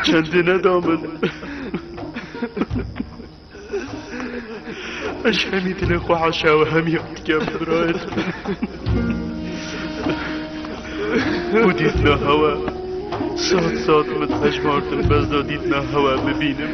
Çendî neda min. Ez hemî dilê xwe heşa û hemî dikem birayet. Û dîtna hewa. Sat sat min hejmartin bez da dîtna hewa bibînim.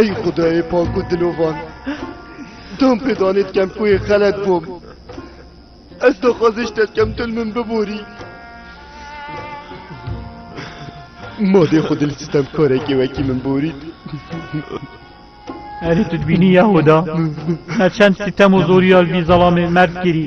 Ey xudayê pak û dilovan dom pê danê dikem ku yê xelet bûm. Ez daxwaziş te dikem tu li min biborî. Madê xwe dil sistem karekê wekî min borî. Erê tu dibînî Yehoda me çend sitem û zorîya li vî zelamê merz kirî.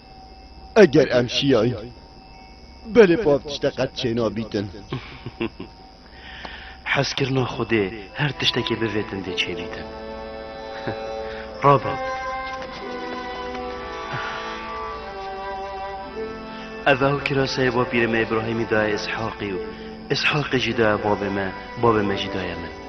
Eger em şiyayîn belê bav tişte qet çênabîtin. Hezkirina Xwedê her tiştekê bivêtin dê çêbîtin. Rabe. Ev ew kiraseyê bapîrê me Îbrahîmî daye Îshaqî û Îshaqî jî daye babê me, babê me jî daye min.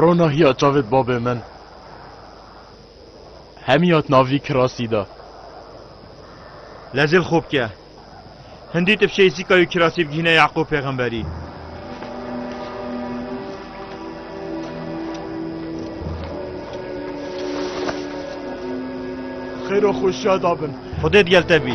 Rona hiya çavê babê min hemî hat navî kirasî de. Lezil xo bike. Hindî tifşeyî sîka û kirasî bigihîne Yaqûb pêxemberî. Xêro xwe şa dabin. Xwedê digel te bî.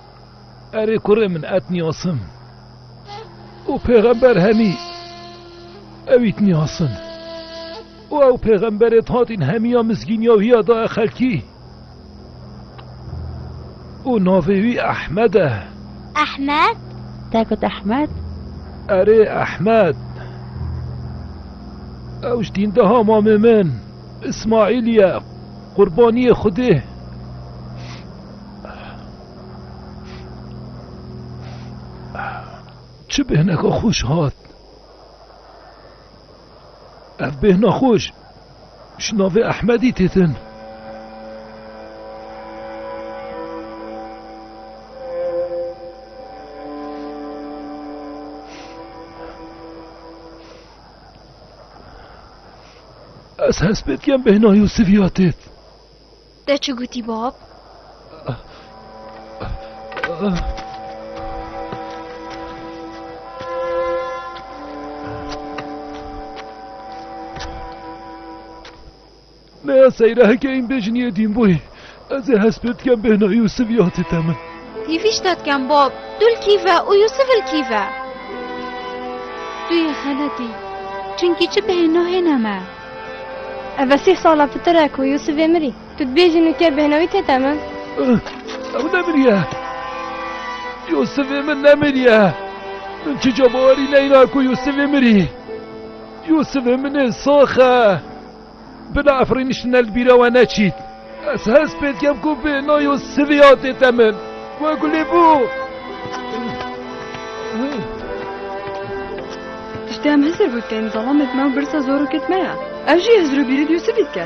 Erê kurê min et niyasim û pêxember hemî ewît niyasin û ew pêxemberê hatîn hemîya mizgîniya wî ya daye xelkî û navê wî Ehmed e. Ehmed? Te got Ehmed? Erê Ehmed. Ew ji dîndeha mamê min Îsmaîlî ye, qurbaniyê Xwedê. Çi bêhneka xweş hat. Ev bêhna xweş ji navê Ehmedî têtin. Ez hespêt kem bêhna Yûsif ya têt. Te çi gotî bab? Meya seyre heke îm bê jiniyê dîn bûyî. Ez ê hest pê dikem bêhna Yûsif ya tê te min. Hîvîş te dikem bab, tu li kî ve û Yûsif li kî ve? Tu yê xeletî. Çimkî çi bêhna hêne me. Ev e sih sala pitir e ku Yûsifê mirî. Tu dibêjî nûker bêhna wî tête min? Ew nemiriye. Yûsifê min nemiriye. Min çica bawerî neyna ku Yûsifê mirî. Yûsifê min ê sax e. Bila Efrîn îşîne li bîra we neçît. Ez hez pê dikem ku bi nayo Sivya tê te min. We gulê bû. Tiştê em hizir bû tên zalamê me û birsa zor û kit me ya. Ev jî hizir û bîrî dî û sivî dike.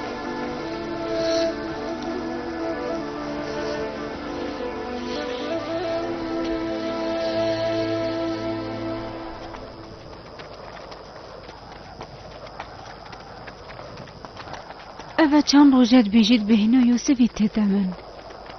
Eve çend rojê dibêjî dibêhno Yûsifî têde min.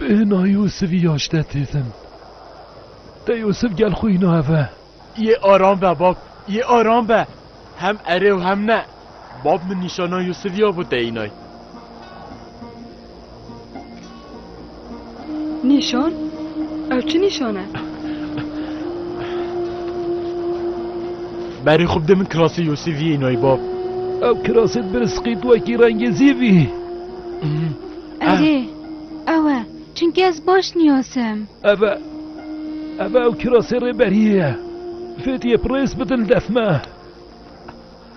Ê na Yûsif ya ji te têtin. Te Yûsif gel xwe îna eve. Yê aram be bab, yê aram be. Hem erê û hem ne. Bab min nîşana Yûsif ya bo te înay. Nîşan? Ew çi nîşan e? Berê xwe bide min kirasê Yûsif yê înay bab. Ew kirasê bi risqî tu wekî rengê zî bî. Erê, ew e, çimkî ez baş niyasim. Ev e, ev e ew kirasê rêberiyê ye. Fêdiyê bi rêz bidin def me.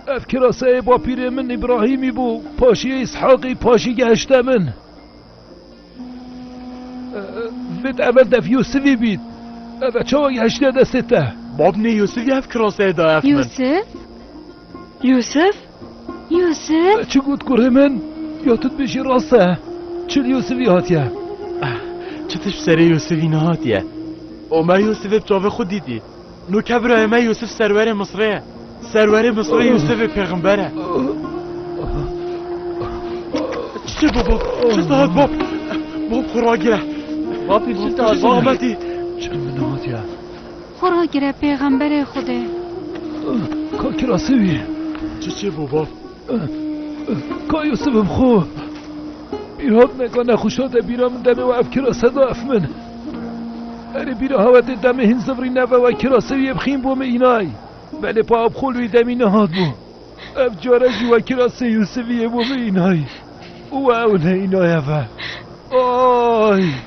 Ev kiraseyê bapîrê min Îbrahîmî bû, paşiyê Îshaqî, paşî gehişte min. Vêt ev e dev Yûsivî bît. Ev e çawa gehiştiye destê te? Babnê Yûsivî ev kiraseyê daye min. Yûsif? Yûsif? Yûsif? Me çi got kurê min? Ya tu dibêjî rast e. Çi li Yûsifî hatiye? Çi tişt bi serê Yûsifî nehatiye? O me Yûsifê bi çavê xwe dîtî. No ke birayê me Yûsif serwerê Misrê ye. Serwerê Misrê Yûsifê pêxember e. Çi bû bab? Çi dihat bab? Bab xwe ragire. Bapî çi dihat? Ahmetî. Çi min hatiye? Xwe ragire pêxemberê Xwedê. Ka kirasê wî ye. Çi çêbû bav? Ka Yûsif im xwe. Î hatine ka nexweşa de bîra min demê we ev kirase da ef min. Erê bîra hewetê demê hîn zivrî neve we kirasê wî yê bixîm bo min înay. Belê pa abxol wî demî nehat bo. Ev care jî we kirasê Yûsifî yê bo min înay. Û we ewne înaye ve. Ay!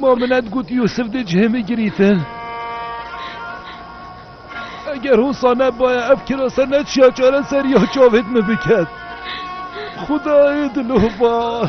Ma min et got Yûsif dê cihê min girîtin. Eger hosa nebaya ev kirase neçiya çare ser ya çavêt min biket. Xudayê dilova.